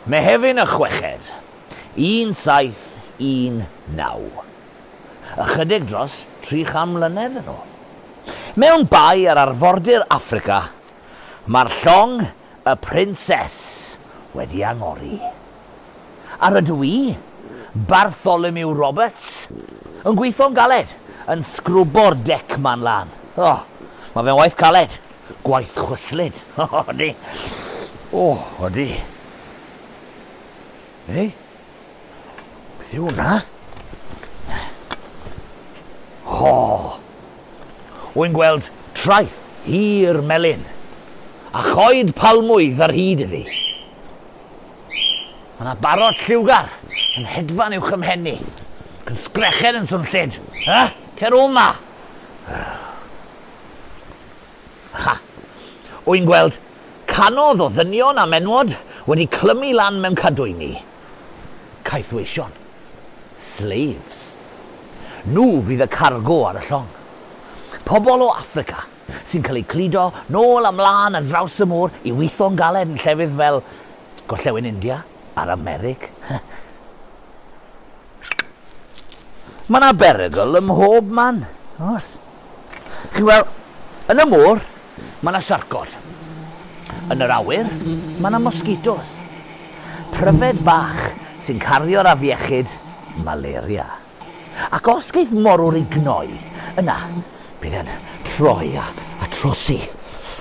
Mehefin y Chweched, 1719. Ychydig dros tri cham mlynedd yn ôl. Mewn bae ar arfordir Affrica, mae'r llong y Prinses wedi angori. A rydw i, Bartholomew Roberts, yn gweithio'n galed yn sgrwbo'r dec 'ma'n lân. O, mae fe'n waith caled. Gwaith chwyslyd. O, ydy. O, ydy. Ei? Beth yw hwnna? O! Wy'n gweld traeth hir melyn, a choed palmwydd ar hyd iddi. Mae yna barod lliwgar yn hedfan i'w chymhenni, ac yn sgrechen yn swnllyd. Ha? Cer o'ma! Ha! Wy'n gweld canodd o ddynion a menwod wedi clymu lan mewn cadwyni. Caethweision. Slaves. Nhw fydd y cargo ar y llong. Pobl o Affrica sy'n cael eu cludo nôl a mlân ar draws y môr i witho'n galed yn llefydd fel Gorllewin India a'r Amerig. Mae 'na berygl ym mhob man, oes. Chi'n gweld, yn y môr, mae yna siarcod. Yn yr awyr, mae yna mosgitos. Pryfed bach sy'n cario'r afiechyd malaria. Ac os geith morwr ei gnoi, yna bydd e'n troi a trosi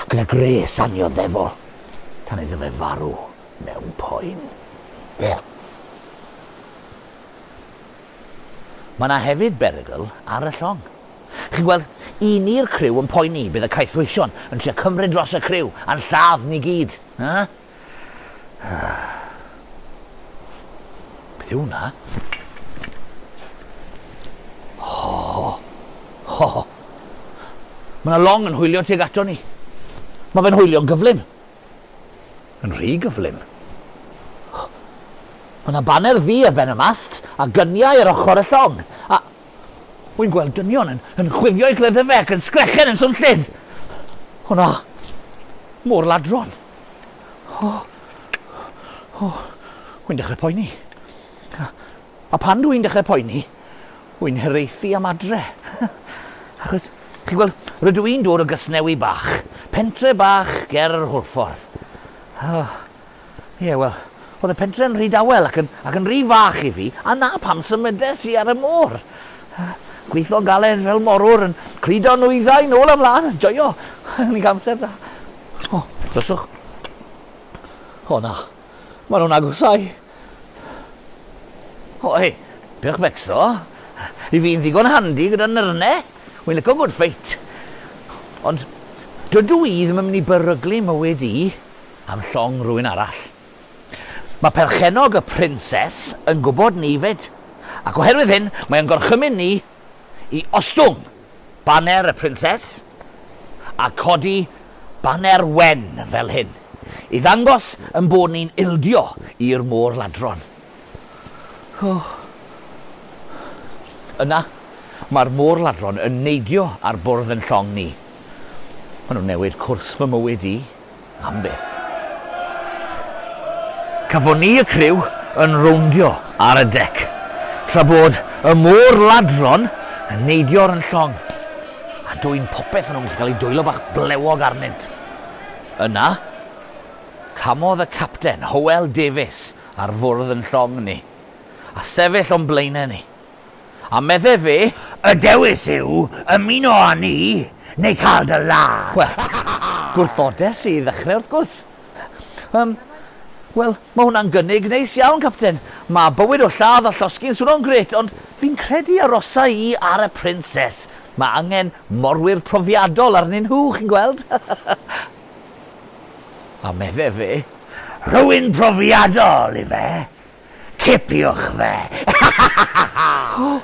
gyda gwres annioddefol tan iddo fe farw mewn poen. Mae yna hefyd berygl ar y llong. Chi'n gweld, i ni'r criw yn poeni, bydd y caethweision yn trio cymryd dros y criw a'n lladd ni gyd. Beth yw hwnna? Oh, oh. Mae yna long yn hwylio tuag ato ni. Mae fe'n hwylio'n gyflym. Yn rhy gyflym. O! Mae 'na baner ddu ar ben y mast, a gyniau ar ochr y llong, a wi'n gweld dynion yn, yn chwifio eu cleddyfau ac yn sgrechen yn swnllyd! O na! Môr ladron! O! O! Wi'n dechrau poeni. A pan dw i'n dechrau poeni, wy'n hiraethu am adre. Achos, chi'n gweld, rydw i'n dod o Gasnewy Bach, pentre bach ger yr Hwlffordd. O, ie, wel, oedd y pentre yn rhy dawel ac yn, ac yn rhy fach i fi, a na pam symudes i ar y môr. Gweithio galed fel morwr yn cludo nwyddau nôl a mlaen, yn joio, yn ei amser da. O, dryswch. O na, maen nhw'n agosau. Oi, pech becso. I fi'n ddigon handi gyda nyrne. Wi'n lico good fight. Ond dydw i ddim yn mynd i beryglu mywyd i am llong rhywun arall. Mae perchennog y prinses yn gwybod 'ny 'fyd, ac oherwydd hyn mae o'n gorchymyn ni i ostwng! baner y Prinses a codi baner wen fel hyn i ddangos ein bod ni'n ildio i'r môr ladron. O! Yna, mae'r môr ladron yn neidio ar bwrdd yn llong ni. Maen nhw'n newid cwrs fy mywyd i. am byth. Cafon ni y criw yn rowndio ar y dec, tra bod y môr ladron yn neidio ar yn llong, a dwyn popeth o'n nhw'n gallu cael ei dwyllo bach blewog arnynt. Yna, camodd y capten, Howell Davies, ar fwrdd yn llong ni, a sefyll o'n blaenau ni, A medde fe. Y dewis yw ymuno â ni neu cael dy ladd! Wel, gwrthodes i i ddechrau wrth gwrs. Yym, wel, mae hwnna'n gynnig neis iawn, Capten. Mae bywyd o lladd a llosgi'n swno'n grêt, ond fi'n credu arosa i ar y Princes. Mae angen morwyr profiadol arnyn nhw, chi'n gweld? A medde fe. Rhywun profiadol, ife? Cipiwch fe! O!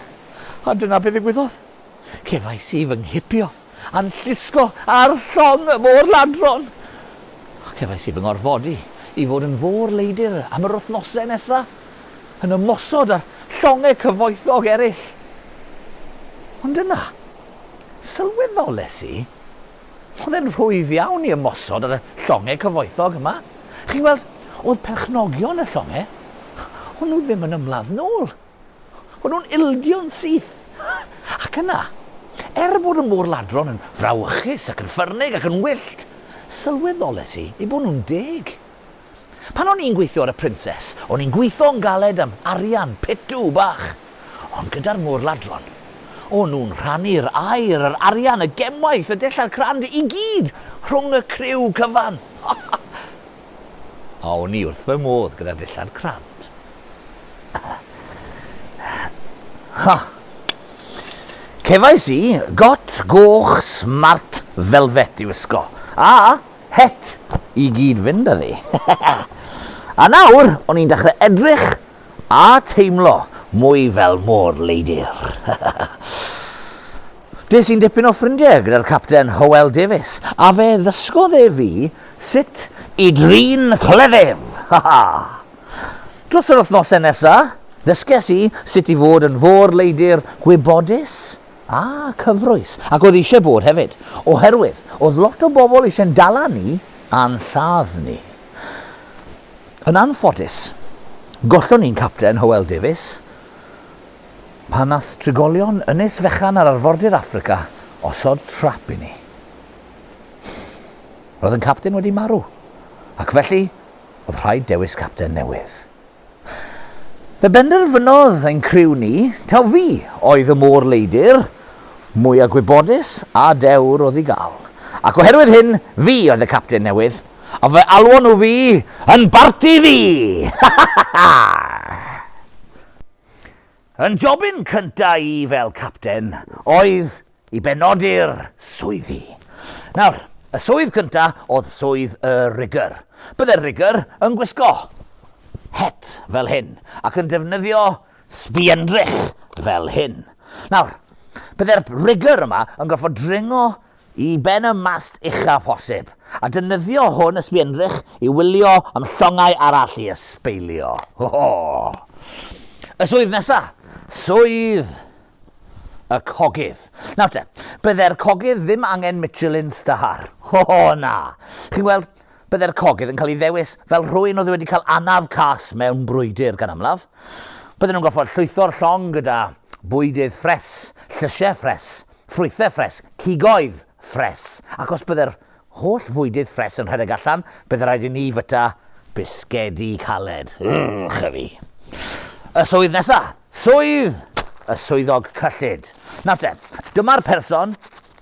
A dyna be ddigwyddodd. Cefais i fy nghipio, a'n llusgo ar llong y môr-ladron! Cefais i fy ngorfodi i fod yn fôr-leidr am yr wythnosau nesa', yn ymosod ar llongau cyfoethog eraill. Ond yna, sylweddolais i, Oedd e'n rhwydd iawn i ymosod ar y llongau cyfoethog yma. Chi'n gweld, oedd perchnogion y llongau, o'n nhw ddim yn ymladd nôl. O'n nhw'n ildio'n syth. Ac yna, er bod y môr-ladron yn frawychus ac yn ffyrnig ac yn wyllt, sylweddolais i eu bod nhw'n deg. Pan o'n i'n gweithio ar y Princes, o'n i'n gweithio'n galed am arian pitw bach. Ond gyda'r môr-ladron, o'n nhw'n rhannu'r aer, yr arian, y gemwaith, y dillad crand, i gyd rhwng y criw cyfan! Ha ha! A o'n i wrth fy modd gyda'r dillad crand. Ha! Cefais i got goch smart velvet i wisgo, a het i gyd fynd â fi. a nawr o'n i'n dechrau edrych a teimlo mwy fel môr leidir. Des i'n dipyn o ffrindiau gyda'r capten Howell Davies, a fe ddysgodd e fi sut i drin cleddyf. Dros yr wythnosau nesaf, ddysges i sut i fod yn fôr leidir gwybodus, A cyfroes. Ac oedd eisiau bod hefyd. Oherwydd, oedd lot o bobl eisiau ein dala ni a'n lladd ni. Yn anffodus, gollon ni'n capten, Hywel Davies, pan wnaeth trigolion ynys fechan ar arfordir Affrica osod trap i ni. Roedd ein capten wedi marw, ac felly oedd rhaid dewis capten newydd. Fe benderfynodd ein criw ni taw fi oedd y môr leidr mwya gwybodus a dewr o'dd i gael, ac oherwydd hyn, fi oedd y capten newydd, a fe alwon nhw fi yn Barti Ddu! Ha ha ha ha! Yn jobyn cynta i fel capten oedd i benodi'r swyddi. Nawr, y swydd cynta oedd swydd y rigger. Bydde'r rigger yn gwisgo het fel hyn ac yn defnyddio sbiendrych fel hyn. Nawr, bydde'r rigger yma yn gorfod dringo i ben y mast ucha posib, a dynyddio hwn y sbiendrych i wylio am llongau arall i ysbeilio. Ho, ho. Y swydd nesa, swydd y cogydd. Nawr te, bydde'r cogydd ddim angen Michelin Star. O, oh, na! Chi'n gweld, bydde'r cogydd yn cael ei ddewis fel rhywun oedd wedi cael anaf cas mewn brwydr gan amlaf. Bydden nhw'n goffod llwytho'r llong gyda bwydydd ffres, llysiau ffres, ffrwythau ffres, cigoedd ffres, ac os bydde'r holl fwydydd ffres yn rhedeg allan, bydde rhaid i ni fyta bisgedi caled. Ych fi. Y swydd nesaf, Swydd! Y swyddog cyllid. Nawr te, dyma'r person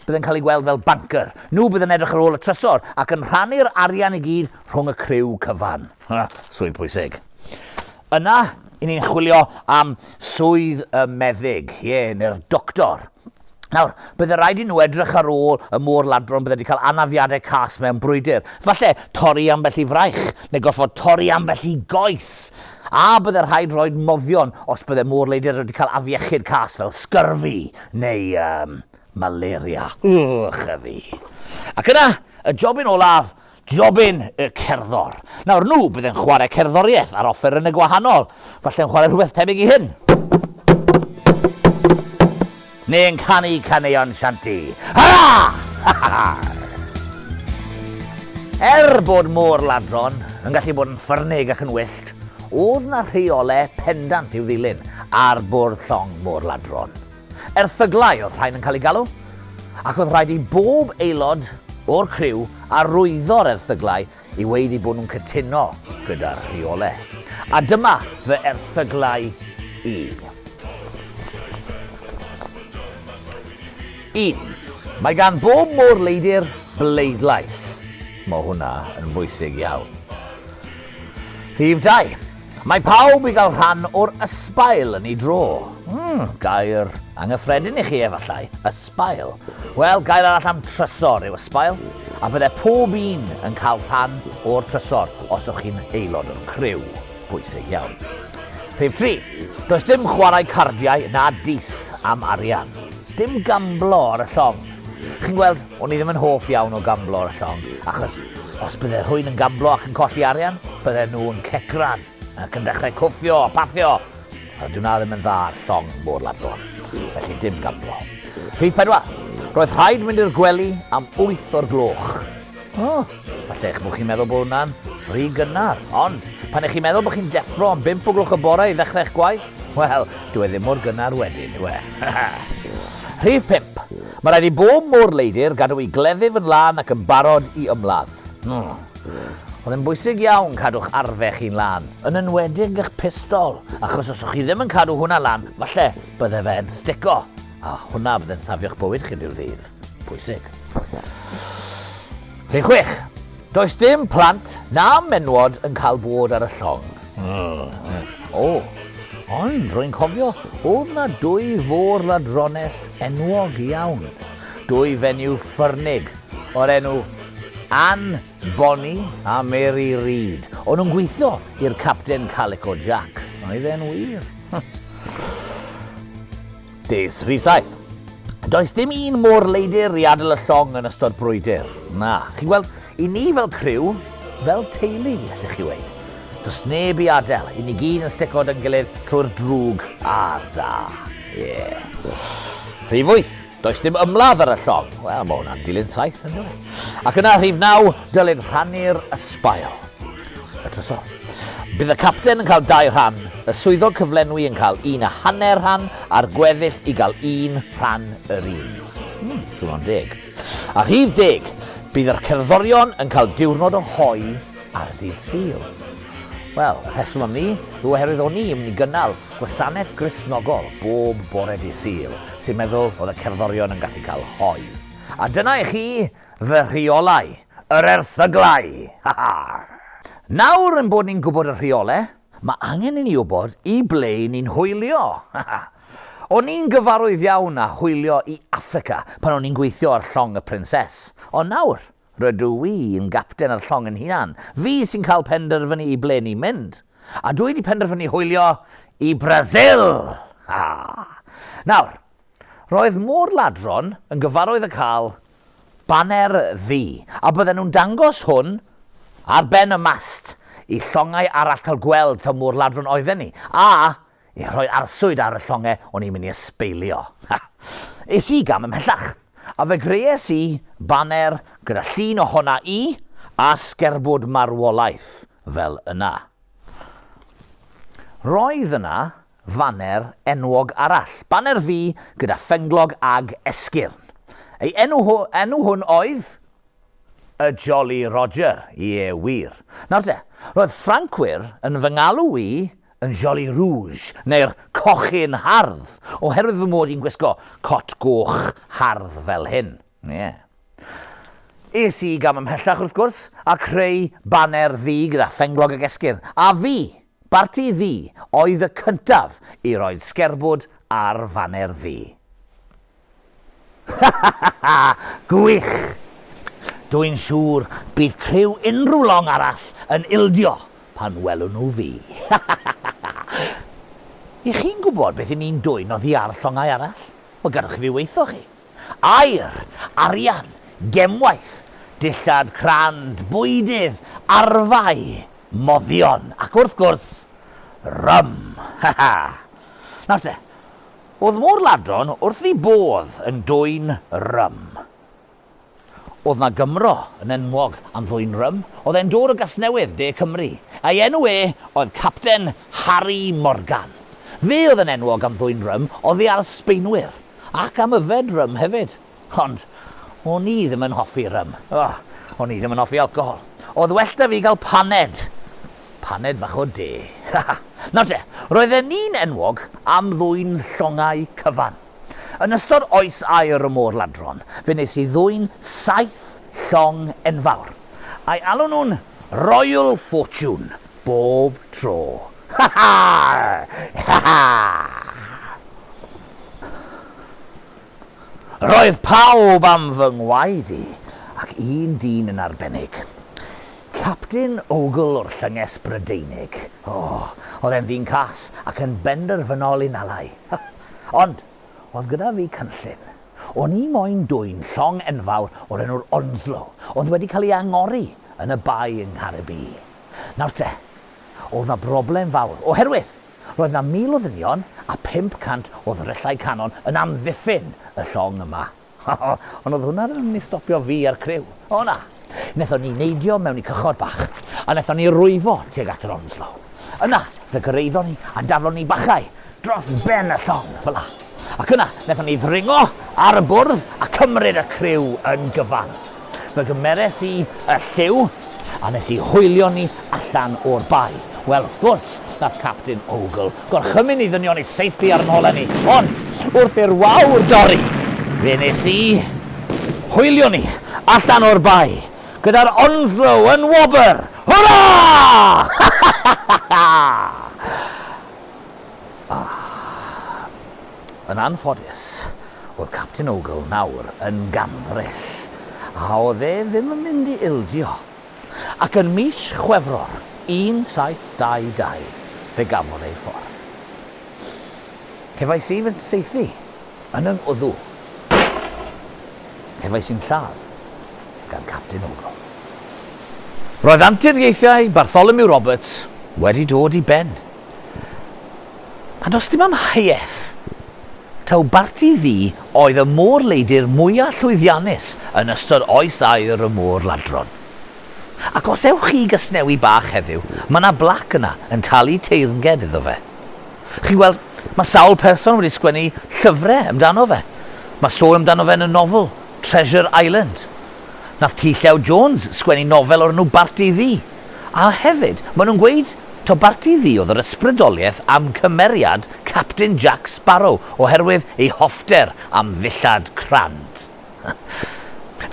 bydd yn cael ei gweld fel banker. Nhw bydd yn edrych ar ôl y trysor ac yn rhannu'r arian i gyd rhwng y criw cyfan. Ha, swydd pwysig. Yna, i ni'n chwilio am swydd y meddyg, ie, neu'r doctor. Nawr, bydde rhaid i nhw edrych ar ôl y môr ladron bydde wedi cael anafiadau cas mewn brwydr. Falle torri ambell i fraich, neu gorfod torri ambell i goes. A bydde rhaid rhoi moddion os bydde môr leidr wedi cael afiechyd cas fel sgyrfi neu um, malaria. Wch a fi. Ac yna, y jobyn olaf, Jobyn y cerddor. Nawr, nhw bydd yn chwarae cerddoriaeth ar offerynnau gwahanol. Falle yn chwarae rhywbeth tebyg i hyn. Neu yn canu caneuon shanty. Hurrah! Er bod môr ladron yn gallu bod yn ffyrnig ac yn wyllt, oedd na rheole pendant i'w ddilyn ar bwrdd llong môr ladron. Erthyglau oedd rhain yn cael eu galw, ac oedd rhaid i bob aelod o'r criw arwyddo'r erthyglau i weud eu bod nhw'n cytuno gyda'r rheolau. A dyma fy erthyglau i. 1. Mae gan bob môr leidr bleidlais. Mae hwnna yn bwysig iawn. Rhif 2. Mae pawb i gael rhan o'r ysbail yn ei dro. Mm, gair angyffredin i chi efallai, ysbail. Wel, gair arall am trysor yw ysbail, a byddai pob un yn cael rhan o'r trysor os o'ch chi'n aelod o'r criw. Bwysig iawn. Rhif 3. Does dim chwarae cardiau na dis am arian. Dim gamblo ar y llong. Chi'n gweld, O'n i ddim yn hoff iawn o gamblo ar y llong, achos os bydde rhywun yn gamblo ac yn colli arian, bydden nhw yn cecran ac yn dechrau cwffio a paffio, a dw na ddim yn dda ar llong mor ladron, felly dim gamblo. Rhif pedwar, Roedd rhaid mynd i'r gwely am wyth o'r gloch. O! Falle eich bod chi'n meddwl bod hwnna'n rhy gynnar, ond pan ych chi'n meddwl bod chi'n deffro am 5 o gloch y bore i ddechrau eich gwaith, wel, dyw e ddim mor gynnar wedyn, yw e? Rhif 5. Mae rhaid i bob môr leidr gadw i gleddyf yn lân ac yn barod i ymladd. Hmm. Oedd e'n bwysig iawn cadw'ch arfe chi'n lân, yn enwedig eich pistol, achos os o'ch chi ddim yn cadw hwnna lan, falle bydde fe'n stico, a hwnna bydde'n safio'ch bywyd chi rhyw ddydd. Pwysig. Rhif chwech. Does dim plant na menwod yn cael bod ar y llong. O, ond rwy'n cofio, oedd na dwy fôr ladrones enwog iawn. Dwy fenyw ffyrnig o'r enw Ann Bonny a Mary Reid. O'n nhw'n gweithio i'r Captain Calico Jack. Oedd e'n wir. Des rhif saith. Does dim un mor leidir i adl y llong yn ystod brwydr. Na, chi'n gweld, i ni fel criw, fel teulu, allech chi weid. Does neb i adael, i ni gyd yn sticod yn gilydd trwy'r drwg a'r da. Ie. Yeah. Rhif wyth. Does dim ymladd ar y llong. Wel, mae hwnna'n dilyn saith yn dweud. Ac yna rhif naw, dylid rhannu'r ysbail. Eto. Bydd y capten yn cael dau rhan, y swyddog cyflenwi yn cael un a hanner rhan a'r gweddill i gael un rhan yr un. Hmm, swnio'n deg. A rhif deg, bydd yr cerddorion yn cael diwrnod o hoi ar ddydd Sul. Wel, y rheswm am ni yw oherwydd o'n ni yn mynd i gynnal gwasanaeth grisnogol bob bore di Sul, sy'n meddwl oedd y cerddorion yn gallu cael hoi. A dyna i chi Fy rheolau! Yr erthyglau! Ha ha! Nawr ein bod ni'n gwybod y rheolau, mae angen i ni wybod i ble i ni'n hwylio! Ha ha! O'n i'n gyfarwydd iawn â hwylio i Affrica pan o'n i'n gweithio ar Llong y Prinses, ond nawr, rydw i yn gapten ar llong yn hunan, fi sy'n cael penderfynu i ble ni'n mynd! A dw i 'di penderfynu hwylio i Brasil! Ha ha! Nawr, Roedd Môr Ladron yn gyfarwydd â cael baner ddu, a bydden nhw'n dangos hwn ar ben y mast i llongau arall cael gweld taw Môr Ladron oedden ni, a i rhoi arswyd ar y llonge o'n i'n mynd i ysbeilio. Ha! Es i gam ymhellach, a fe greues i baner gyda llun ohona i a sgerbwd marwolaeth fel yna. Roedd yna faner enwog arall, baner ddu gyda phenglog ag esgyrn. Ei enw ho, enw hwn oedd y Jolly Roger, ie, wir. Nawr de, roedd Ffrancwyr, yn fy ngalw i, yn Jolly Rouge, neu'r Cochyn Hardd, oherwydd fy mod i'n gwisgo cot goch hardd fel hyn, ie. Es i gam ymhellach, wrth gwrs, a creu baner ddu gyda phenglog ag esgyrn, a fi, Barti Ddu oedd y cyntaf i roi'r sgerbwd ar faner Ddu. Ha ha ha ha! Gwych! Dw i'n siŵr bydd criw unrhyw long arall yn ildio pan welwn nhw fi. Ha ha ha ha ha! Y'ch chi'n gwybod beth 'yn ni'n dwyn oddi ar llongau arall? Wel, gadwch i fi weithio chi. Aer, arian, gemwaith, dillad crand, bwydydd, arfau, moddion, ac wrth gwrs, rym! Ha ha! Nawr te, o'dd mor ladron wrth 'i bodd yn dwyn rym. Oedd 'na Gymro yn enwog am ddwyn rym, oedd e'n dod o Gasnewydd, De Cymru. Ei enw e oedd Capten Harri Morgan. Fe oedd yn enwog am ddwyn rym oddi ar Sbaenwyr, ac am yfed rym hefyd. Ond o'n i ddim yn hoffi rym. O, o'n i ddim yn hoffi alcohol. Oedd well 'da fi gael paned. Paned fach o de. Ha ha! Nawr te, roedden ni'n enwog am ddwyn llongau cyfan. Yn ystod oes aur y môr ladron, fe wnes i ddwyn saith llong enfawr. Ai alwn nhw'n Royal Fortune bob tro? Ha ha! Ha ha! Roedd pawb am fy ngwaed i, ac un dyn yn arbennig. Capten Ogle o'r Llynges Brydeinig. O, oedd e'n ddyn cas ac yn benderfynol i nalai. Ond, oedd gyda fi cynllun. O'n i moyn dwyn llong enfawr o'r enw'r Onslow, oedd wedi cael ei angori yn y bae yng Nghaergybi. Nawr te, oedd 'na broblem fawr, oherwydd, roedd 'na 1,000 o ddynion a 500 o ddryllau canon yn amddiffyn y llong yma. O, ond oedd hwnna ddim yn mynd i stopio fi a'r criw. O na! Nethon ni neidio mewn i cychod bach, a nethon ni rwyfo tuag at yr Onslow. Yna, fe gyrraeddon ni, a daflon ni bachau dros ben y llong, fel 'a. Ac yna, nethon ni ddringo ar y bwrdd a cymryd y criw yn gyfan. Fe gymeres i y lliw a nes i hwylio ni allan o'r bae. Wel, wrth gwrs, nath Capten Ogle gorchymyn ni ddynion i saethu ar 'yn holau ni, ond wrth i'r wawr dorri, fe nes i hwylio ni allan o'r bae gyda'r Onslow yn wobr! Hwra! Ha! ha! ha! ha! ha! ha! Yn anffodus, o'dd Capten Ogle nawr yn ganddyll, a o'dd e ddim yn mynd i ildio, ac yn mis Chwefror 1722 fe gafodd ei ffordd. Cefais i fy nsaethu yn y ngwddw. Cefais i'n lladd gan Capten Ogle. Roedd anturiaethau Bartholomew Roberts wedi dod i ben. A does dim amheuaeth taw Barti Ddu oedd y môr-leidr mwya' llwyddiannus yn ystod oes aur y môr ladron. Ac os ewch chi i Gasnewy Bach heddiw, mae 'na blac yna yn talu teyrnged iddo fe. Chi'n gweld, mae sawl person wedi sgwennu llyfre amdano fe. Mae sôn amdano fe yn y nofel, Treasure Island. Nath T Llew Jones sgwennu nofel o'r enw Barti Ddu. A hefyd, maen nhw'n gweud taw Barti Ddu oedd yr ysbrydoliaeth am cymeriad Capten Jac Sbaro oherwydd ei hoffter am ddillad crand.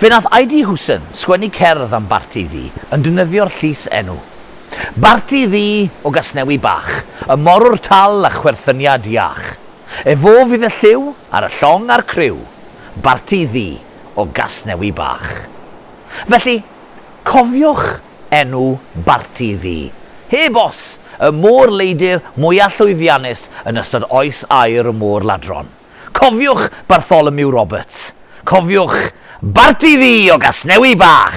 Fe nath Aidy Hooson sgwennu cerdd am Barti Ddu yn defnyddio'r llys enw. Barti Ddu o Gasnewi Bach, y morwr tal a chwerthyniad iach. Efô fydd y lliw ar y llong a'r criw, Barti Ddu o Gasnewi Bach. Felly, Cofiwch enw barti fi. Heb os, y môr leidr mwya llwyddiannus yn ystod oes aur y môr ladron. Cofiwch Bartholomew Roberts. Cofiwch barti fi o Gasnewy Bach!